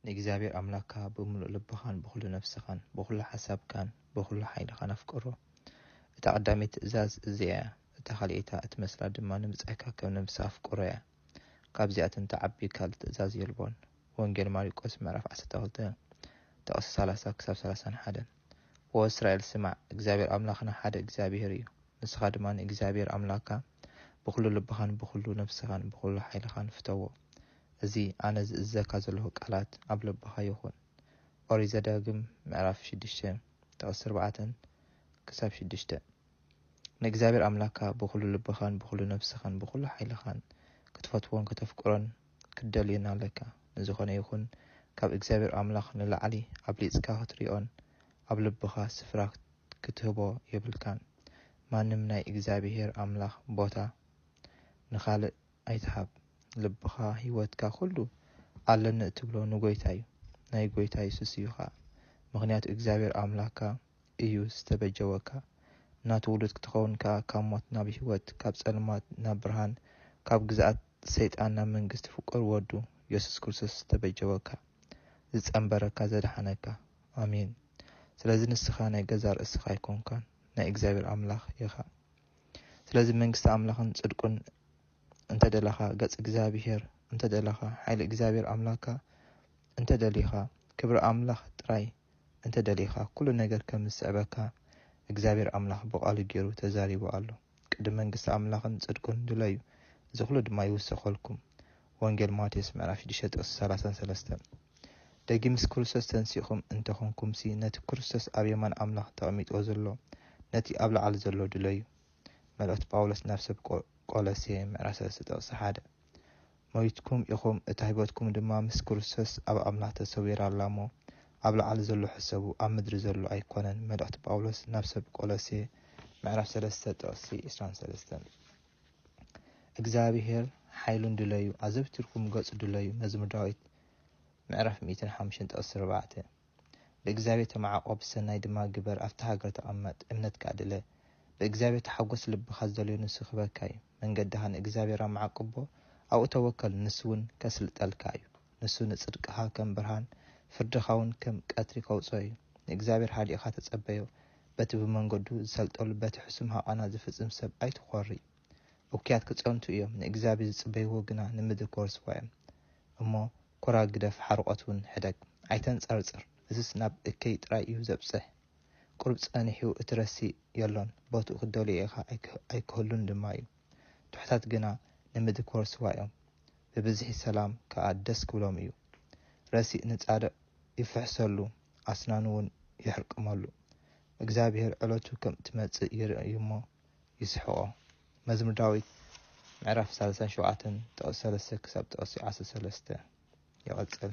ንእግዚኣብሔር ኣምላክካ ብምሉእ ልብኻን ብኹሉ ነፍስኻን ብኹሉ ሓሳብካን ብኹሉ ሓይልኻን ኣፍቅሮ። እታ ቀዳመይቲ ትእዛዝ እዚኣ እያ፣ እታ ካልኣይቲ እትመስላ ድማ ንብጻይካ ከም ነብስኻ ኣፍቅሮ እያ። ካብዚኣተን ትዓቢ ካልእ ትእዛዝ የልቦን። ወንጌል ማሪቆስ ምዕራፍ ዓሰርተ ክልተ ጥቕሲ ሰላሳ ክሳብ ሰላሳን ሓደን ኦ እስራኤል ስማዕ፣ እግዚኣብሔር ኣምላኽና ሓደ እግዚኣብሔር እዩ፣ ንስኻ ድማ ንእግዚኣብሔር ኣምላክካ ብኹሉ ልብኻን ብኹሉ ነፍስኻን ብኹሉ ሓይልኻን ፍተዎ። እዚ ኣነ ዝእዝዘካ ዘለኹ ቃላት ኣብ ልብኻ ይኹን። ኦሪት ዘዳግም ምዕራፍ ሽዱሽተ ጥቕሲ ኣርባዕተን ክሳብ ሽዱሽተን። ንእግዚኣብሔር ኣምላኽካ ብኹሉ ልብኻን ብኹሉ ነፍስኻን ብኹሉ ሓይልኻን ክትፈትዎን ከተፍቅሮን ክትደልዮን ኣለካ። ንዝኾነ ይኹን ካብ እግዚኣብሔር ኣምላኽ ንላዕሊ ኣብሊጽካ ክትሪኦን ኣብ ልብኻ ስፍራ ክትህቦ የብልካን። ማንም ናይ እግዚኣብሔር ኣምላኽ ቦታ ንኻልእ ኣይትሃብ ልብኻ ሂወትካ ኩሉ ኣለኒ እትብሎ ንጎይታ ዩ ናይ ጎይታ የሱስ እዩ ከኣ ምኽንያቱ እግዚኣብሔር ኣምላካ እዩ ዝተበጀወካ ናቱ ውሉድ ክትኸውን ከኣ ካብ ሞት ናብ ሂወት ካብ ጸልማት ናብ ብርሃን ካብ ግዝኣት ሰይጣን ናብ መንግስቲ ፍቁር ወዱ የሱስ ክርስቶስ ዝተበጀወካ ዝጸንበረካ ዘድሓነካ ኣሜን ስለዚ ንስኻ ናይ ገዛእ ርእስኻ ኣይኮንካን ናይ እግዚኣብሔር ኣምላኽ ኢኻ ስለዚ መንግስቲ ኣምላኽን ጽድቁን እንተ ደለኻ፣ ገጽ እግዚኣብሄር እንተ ደለኻ፣ ሓይሊ እግዚኣብሄር ኣምላክካ እንተ ደሊኻ፣ ክብሪ ኣምላኽ ጥራይ እንተ ደሊኻ፣ ኩሉ ነገር ከም ዝስዕበካ እግዚኣብሄር ኣምላኽ ብቓሉ ጌሩ ተዛሪቡ ኣሎ። ቅድም መንግስቲ ኣምላኽን ጽድቁን ድለዩ፣ እዚ ኩሉ ድማ ይውሰኸልኩም። ወንጌል ማቴዎስ ምዕራፍ ሽዱሽተ ጥቕሲ ሰላሳን ሰለስተን፣ ደጊም ምስ ክርስቶስ ተንሲእኩም እንተ ኾንኩምሲ፣ ነቲ ክርስቶስ ኣብ የማን ኣምላኽ ተቐሚጥዎ ዘሎ፣ ነቲ ኣብ ላዕሊ ዘሎ ድለዩ። መልእኽቲ ጳውሎስ ናብ ሰብ ቆ ቆሎሴ ምዕራፍ ሰለስተ ጥቕሲ ሓደ፣ ሞይትኩም ኢኹም፣ እታ ህይወትኩም ድማ ምስ ክርስቶስ ኣብ ኣምላኽ ተሰዊራ ኣላ እሞ፣ ኣብ ላዕሊ ዘሎ ሕሰቡ፣ ኣብ ምድሪ ዘሎ ኣይኮነን መልእኽቲ ጳውሎስ ናብ ሰብ ቆሎሴ ምዕራፍ ሰለስተ ጥቕሲ ዕስራን ሰለስተን። እግዚኣብሄር ሓይሉን ድለዩ፣ ኣዘውቲርኩም ገጹ ድለዩ፣ መዝሙር ዳዊት ምዕራፍ ሚእትን ሓሙሽተን ጥቕሲ ኣርባዕተ። ብእግዚኣብሄር ተመዓቖብ፣ ሰናይ ድማ ግበር፣ ኣብታ ሃገር ተቐመጥ፣ እምነትካ ኣድለ፣ ብእግዚኣብሄር ተሓጐስ፣ ልብኻ ዝደልዮ ንሱ ክህበካ እዩ፣ መንገድኻ ንእግዚኣብሄር ኣመዓቅቦ፣ ኣብኡ ተወከል፣ ንሱውን ከስልጠልካ እዩ፣ ንሱ ንጽድቅኻ ከም ብርሃን፣ ፍርድኻውን ከም ቀትሪ ከውጽኦ እዩ፣ ንእግዚኣብሄር ሃዲእካ ተጸበዮ፣ በቲ ብመንገዱ ዝሰልጠሉ በቲ ሕሱም ሃቓና ዝፍጽም ሰብ ኣይትኾሪ። እኩያት ክጸንቱ እዮም፣ ንእግዚኣብሔር ዝጽበይዎ ግና ንምድሪ ክወርስዋ እዮም። እሞ ኮራር ግደፍ ሓርቖት ውን ሕደግ። ኣይተንጸርጽር እዝስ ናብ እከይ ጥራይ እዩ ዘብጽሕ። ቁሩብ ጸኒሑ እቲ ረሲእ የሎን ቦትኡ ክትደልዮ ኢኻ ኣይክህሉን ድማ እዩ። ትሑታት ግና ንምድሪ ክወርስዋ እዮም፣ ብብዝሒ ሰላም ከኣ ደስ ክብሎም እዩ። ረሲእ ንጻድቕ ይፍሕሰሉ ኣስናኑ ውን ይሕርቅመሉ። እግዚኣብሄር ዕለቱ ከም እትመጽእ ይርኢ እዩ እሞ፣ ይስሕቖ። መዝሙር ዳዊት ምዕራፍ ሳላሳን ሸውዓተን ጥቕሲ ሰለስተ ክሳብ ጥቕሲ ዓሰርተ ሰለስተ ይቕጽል።